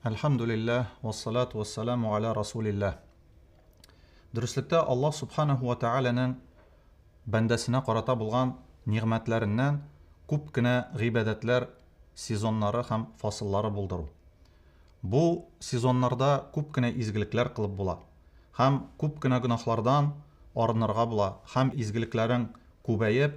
Әлхәмдүлилләһ, вассалату вассаламу аля расулилләһ. Дөреслектә Аллаһ Субханаһу ва Тәгаләнең бәндәсенә карата булган нигъмәтләреннән күп кенә гыйбадәтләр сезоннары һәм фасыллары булдыру. Бу сезоннарда күп кенә изгелекләр кылып була һәм күп кенә гөнаһлардан арынырга була һәм изгелекләрең күбәеп,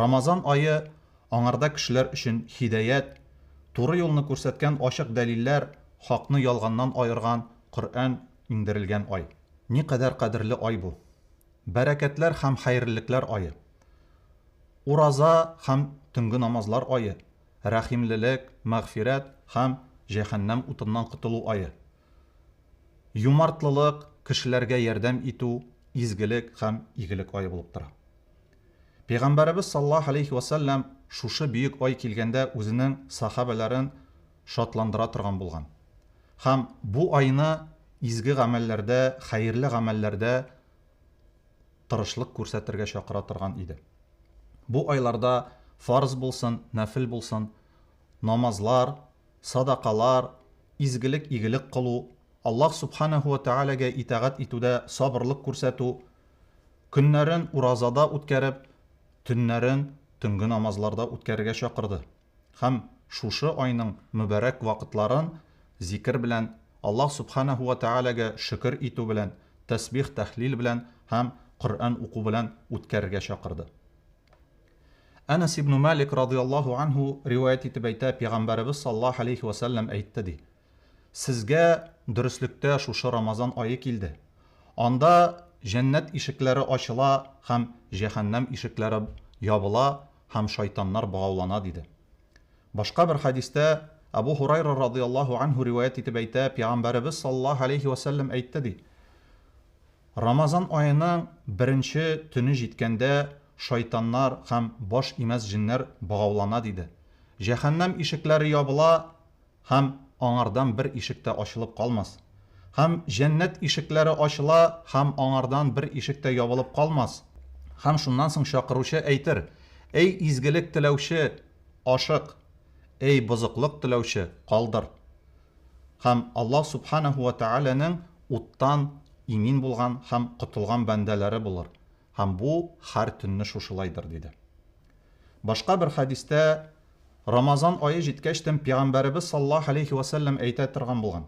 Рамазан ае аңарда кешеләр өчен һидаять, туры юлны күрсәткән ачык дәлилләр, хакны ялганнан аерган Коръән иңдерелгән ай. Никадәр кадерле ай бу! Бәрәкәтләр һәм хәерлелекләр ае. Ураза һәм төнге намазлар ае, рәхимлелек, мәгъфирәт һәм җәһәннәм утыннан котылу ае. Юмартлылык, кешеләргә ярдәм итү изгелек һәм игелек ае булып тора. Пәйгамбәребез саллаллаһу галәйһи вә сәлләм шушы бөек ай килгәндә үзенең сахабәләрен шатландыра торган булган һәм бу айны изге гамәлләрдә, хәерле гамәлләрдә тырышлык күрсәтергә чакыра торган иде. Бу айларда фарыз булсын, нәфел булсын, намазлар, садакалар, изгелек, игелек кылу, Аллаһ Сүбхәнәһү вә Тәгаләгә итагать итүдә сабырлык күрсәтү, көннәрен уразада үткәреп, төннәрен төнге намазларда үткәрергә чакырды һәм шушы айның мөбарәк вакытларын зикер белән, Аллаһ Сүбхәнәһү вә Тәгаләгә шөкер итү белән, тәсбих-тәһлил белән һәм Коръән уку белән үткәрергә чакырды. Әнәс ибне Малик радыйаллаһу анһу риваять итеп әйтә, Пигамбәребез саллаллаһу аләйһи вә сәлләм әйтте, ди, Сезгә дөреслектә шушы Рамазан ае килде. Анда җәннәт ишекләре ачыла һәм җәһәннәм ишекләре ябыла һәм шайтаннар богаулана, диде. Башка бер хәдистә Әбу Һурайра радыйаллаһу анһу риваять итеп әйтә, Пигамбәребез саллаллаһу аләйһи вә сәлләм әйтте, ди, Рамазан аеның беренче төне җиткәндә шайтаннар һәм баш имәс җеннәр богаулана, диде. Җәһәннәм ишекләре ябыла һәм аңардан бер ишек тә ачылып калмас. Һәм Җәннәт ишекләре ачыла һәм аңардан бер ишек тә ябылып калмас. Һәм шуннан соң чакыручы әйтер, Әй изгелек теләүче, ашык! Әй бозыклык теләүче, калдыр! һәм Аллаһ Сүбхәнәһү вә Тәгаләнең уттан имин булган һәм котылган бәндәләре булыр, һәм бу һәр төнне шушылайдыр, диде. Башка бер хәдистә, Рамазан ае җиткәч тен Пигамбәребез саллаллаһу галәйһи вә сәлләм әйтә торган булган,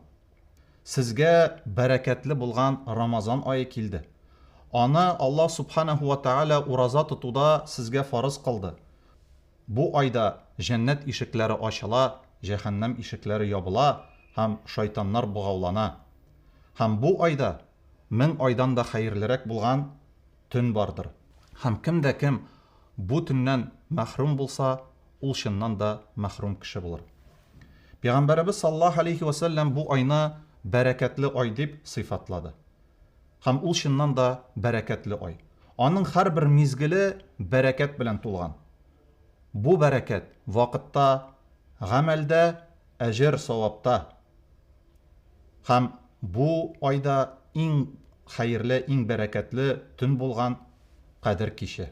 Сезгә бәрәкәтле булган Рамазан ае килде. Аны Аллаһ Сүбхәнәһү вә Тәгалә ураза тотуда сезгә фарыз кылды. Бу айда җәннәт ишекләре ачыла, җәһәннәм ишекләре ябыла һәм шайтаннар богаулана. Һәм бу айда мең айдан да хәерлерәк булган төн бардыр. Һәм кем дә кем бу төннән мәхрүм булса, ул чыннан да мәхрүм кеше булыр. Пәйгамбәребез саллаллаһу галәйһи вә сәлләм бу айны бәрәкәтле ай дип сыйфатлады. Һәм ул чыннан да бәрәкәтле ай. Аның һәрбер мизгеле бәрәкәт белән тулган. Бу бәрәкәт, вакытта, гамәлдә, әҗер-савапта. Һәм бу айда иң хәерле, иң бәрәкәтле төн булган Кадер киче.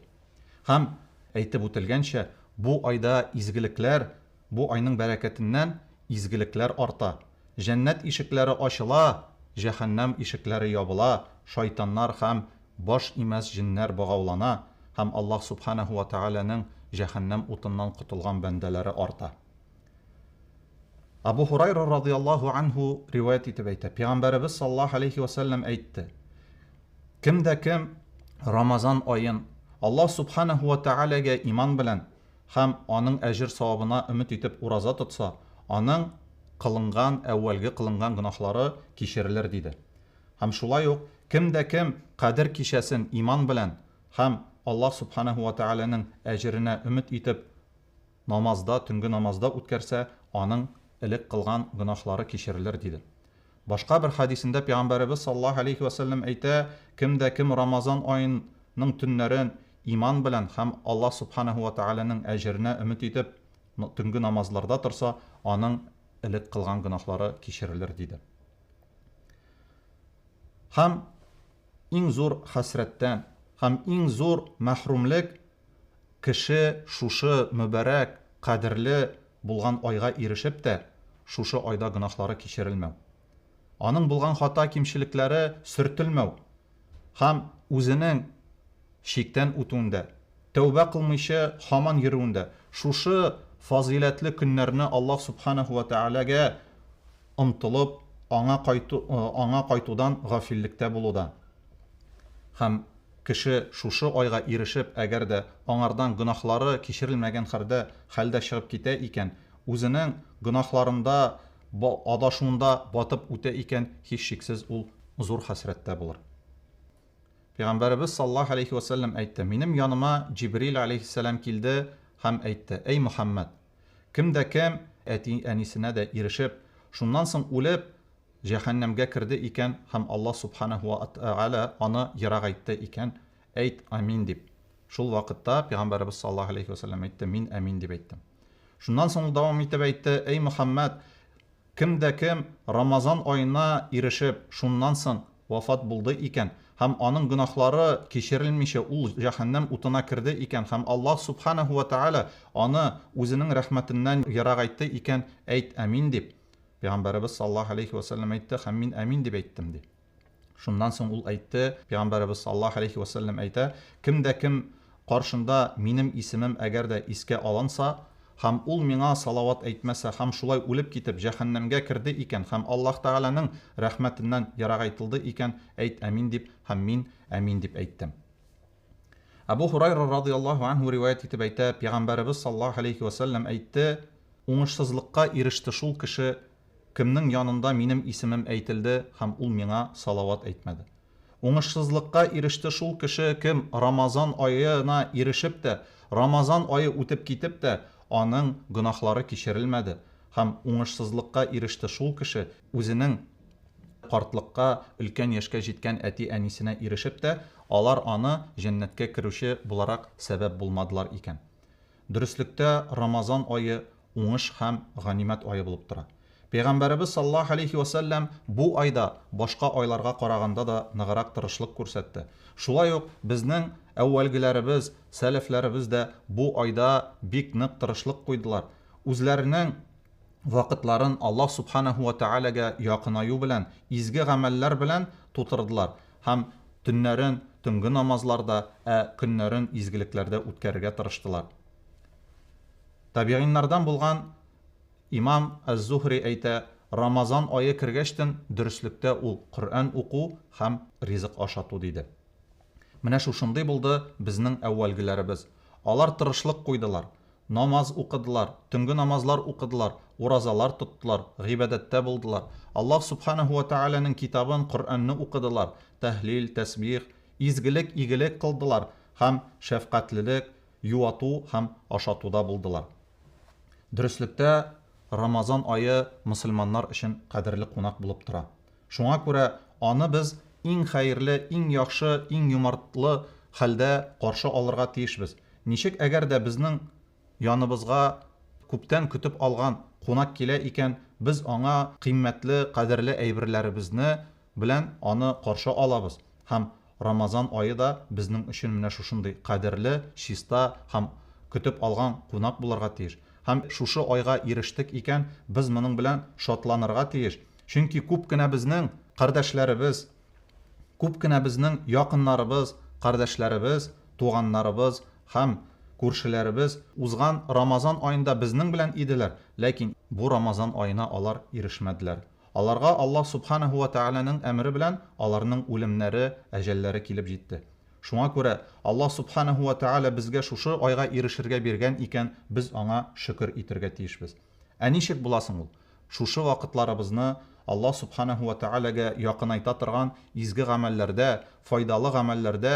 Һәм, әйтеп үтелгәнчә, бу айда изгелекләр Бу айның бәрәкәтеннән изгелекләр арта, җәннәт ишекләре ачыла, җәһәннәм ишекләре ябыла, шайтаннар һәм баш имәс җеннәр богаулана һәм Аллаһ Сүбхәнәһү вә Тәгаләнең җәһәннәм утыннан котылган бәндәләре арта. Абу Һурайра радыяллаһу анһу риваять итеп әйтә, Пигамбәребез саллаллаһу аләйһи вә сәлләм әйтте, Кем дә кем Рамазан аен Аллаһ Сүбхәнәһү вә Тәгаләгә иман белән, һәм аның әҗер-савабына өмет итеп ураза тотса, аның кылынган, әүвәлге кылынган гөнаһлары кичерелер, диде. Һәм шулай ук, кем дә кем Кадер кичәсен иман белән һәм Аллаһ Сүбхәнәһү вә Тәгаләнең әҗеренә өмет итеп намазда, төнге намазда үткәрсә, аның элек кылган гөнаһлары кичерелер, диде. Башка бер хәдисендә Пәйгамбәребез саллаллаһу галәйһи вә сәлләм әйтә, Кем дә кем Рамазан аен ның төннәрен иман белән һәм Аллаһ Субханаһу вә Тәгаләнең әҗеренә өмет итеп төнге намазларда торса, аның элек кылган гөнаһлары кичерелер, диде. Һәм иң зур хәсрәттән һәм иң зур мәхрүмлек кеше шушы мөбарәк, кадерле Булган айга ирешеп тә, шушы айда гөнаһлары кичерелмәү. Аның булган хата-кимчелекләре сөртелмәү һәм үзенең чиктән үтүендә, тәүбә кылмыйча һаман йөрүендә шушы фазыйләтле көннәрне Аллаһ Сүбхәнәһү вә Тәгаләгә омтылып, Аңа кайту, Аңа кайтудан гафиллектә булуда һәм Кеше шушы айга ирешеп, әгәр дә аңардан гөнаһлары кичерелмәгән хәрдә хәлдә чыгып китә икән, үзенең гөнаһларында ба адашуында батып үтә икән, һичшиксез ул зур хәсрәттә булыр. Пәйгамбәребез саллаллаһу галәйһи вә сәлләм әйтте, Минем яныма Җибрил галәйһиссәлам килде һәм әйтте, Әй Мөхәммәд! Кем дә кем әти-әнисенә дә ирешеп, шуннан соң үлеп, җәһәннәмгә керде икән һәм Аллаһ Субханаһу ва Тәгалә аны ерагайтты икән, әйт, Амин дип. Шул вакытта Пәйгамбәребез саллаллаһу галәйһи вә сәлләм әйтте, Мин Амин дип әйттем. Шуннан соң ул дәвам итеп әйтте, Әй Мөхәммәд, кем дә кем Рамазан аена ирешеп, шуннан соң вафат булды икән һәм аның гөнаһлары кичерелмичә ул җәһәннәм утына керде икән һәм Аллаһ Субханаһу ва Тәгалә аны үзенең рәхмәтеннән ерагайтты икән, әйт, Амин дип. Пәйгамбәребез саллаллаһу галәйһи вә сәлләм әйтте һәм мин әмин дип әйттем, ди. Шуннан соң ул әйтте, Пәйгамбәребез саллаллаһу галәйһи вә сәлләм әйтә, Кем дә кем каршында минем исемем әгәр дә искә алынса һәм ул миңа салават әйтмәсә һәм шулай үлеп китеп җәһәннәмгә керде икән һәм Аллаһ Тәгаләнең рәхмәтеннән ерагайтылды икән, әйт әмин дип һәм мин әмин дип әйттем. Әбү Һурайра радыяллаһу анһу риваять итеп әйтә, Пигамбәребез саллаллаһу галәйһи вә сәлләм әйтте, Уңышсызлыкка иреште шул кеше, кемнең янында минем исемем әйтелде һәм ул миңа салават әйтмәде. Уңышсызлыкка иреште шул кеше, кем Рамазан аена ирешеп тә, Рамазан ае үтеп китеп тә, аның гөнаһлары кичерелмәде, һәм уңышсызлыкка иреште шул кеше, үзенең Картлыкка, өлкән яшькә җиткән әти-әнисенә ирешеп тә, алар аны җәннәткә керүче буларак сәбәп булмадылар икән. Дөреслектә, Рамазан ае уңыш һәм ганимәт ае булып тора. Пәйгамбәребез саллаллаһу галәйһи вә сәлләм бу айда башка айларга караганда да ныграк тырышлык күрсәтте. Шулай ук безнең әүвәлгеләребез, сәләфләребез дә бу айда бик нык тырышлык куйдылар, үзләренең. вакытларын Аллаһ Сүбхәнәһү вә Тәгаләгә якынаю белән, изге гамәлләр белән тутырдылар һәм төннәрен төнге намазларда, ә көннәрен изгелекләрдә үткәрергә тырыштылар. Табигыйннардан булган имам Әз-Зухри әйтә, Рамазан ае кергәчтен дөреслектә ул Коръән уку һәм ризык ашату диде. Менә шушындый булды безнең әүвәлгеләребез. Алар тырышлык куйдылар, Намаз укыдылар, төнге намазлар укыдылар, уразалар тоттылар, гыйбадәттә булдылар, Аллаһ Сүбхәнәһү вә Тәгаләнең Китабын, Коръәнне укыдылар, тәһлил, тәсбих, изгелек, игелек кылдылар һәм шәфкатьлелек, юату һәм ашатуда булдылар. Дөреслектә, Рамазан ае мөселманнар өчен кадерле кунак булып тора. Шуңа күрә аны без иң хәерле, иң яхшы, иң юмартлы хәлдә каршы алырга тиешбез. Ничек әгәр дә безнең яныбызга күптән көтеп алган кунак килә икән, без аңа кыйммәтле, кадерле әйберләребезне белән аны каршы алабыз һәм Рамазан ае да безнең өчен менә шушындый кадерле, чиста һәм көтеп алган кунак булырга тиеш. Һәм шушы айга ирештек икән, без моның белән шатланырга тиеш, чөнки күп кенә безнең кардәшләребез, күп кенә безнең якыннарыбыз, кардәшләребез, туганнарыбыз һәм күршеләребез узган Рамазан аенда безнең белән иделәр, ләкин бу Рамазан аена алар ирешмәделәр. Аларга Аллаһ Сүбхәнәһү вә Тәгаләнең әмере белән аларның үлемнәре, әҗәлләре килеп җитте. Шуңа күрә, Аллаһ Сүбхәнәһү вә Тәгалә безгә шушы айга ирешергә биргән икән, без Аңа шөкер итергә тиешбез. Ә ничек була соң ул? Шушы вакытларыбызны Аллаһ Сүбхәнәһү вә Тәгаләгә якынайта торган изге гамәлләрдә, файдалы гамәлләрдә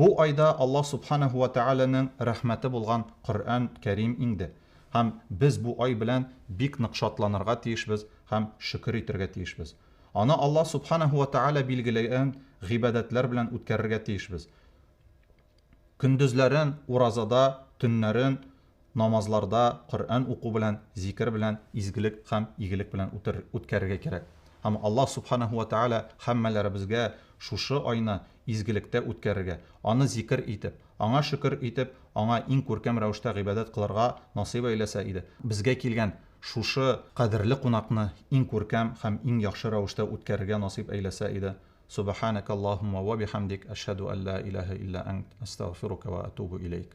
Бу айда Аллаһ Сүбхәнәһү вә Тәгаләнең рәхмәте булган Коръән Кәрим иңде һәм без бу ай белән бик нык шатланырга тиешбез һәм шөкер итергә тиешбез. Аны Аллаһ Сүбхәнәһү вә Тәгалә билгеләгән гыйбадәтләр белән үткәрергә тиешбез. Көндезләрен, уразада, төннәрен намазларда Коръән уку белән, зикер белән, изгелек һәм игелек белән үткәрергә кирәк. Һәм Аллаһ Субханаһу вә Тәгалә һәммәләребезгә шушы айны изгелектә үткәрергә, Аны зикер итеп, Аңа шөкер итеп, Аңа иң күркәм рәвештә гыйбадәт кылырга насыйп әйләсә иде. Безгә килгән шушы кадерле кунакны иң күркәм һәм иң яхшы рәвештә үткәрергә насыйп әйләсә иде. Субаханәкә Аллаһуммә вә бихәмдик, әшһәдү әллә иләһә илля әнт, әстәгъфирука вә әтубу иләйк.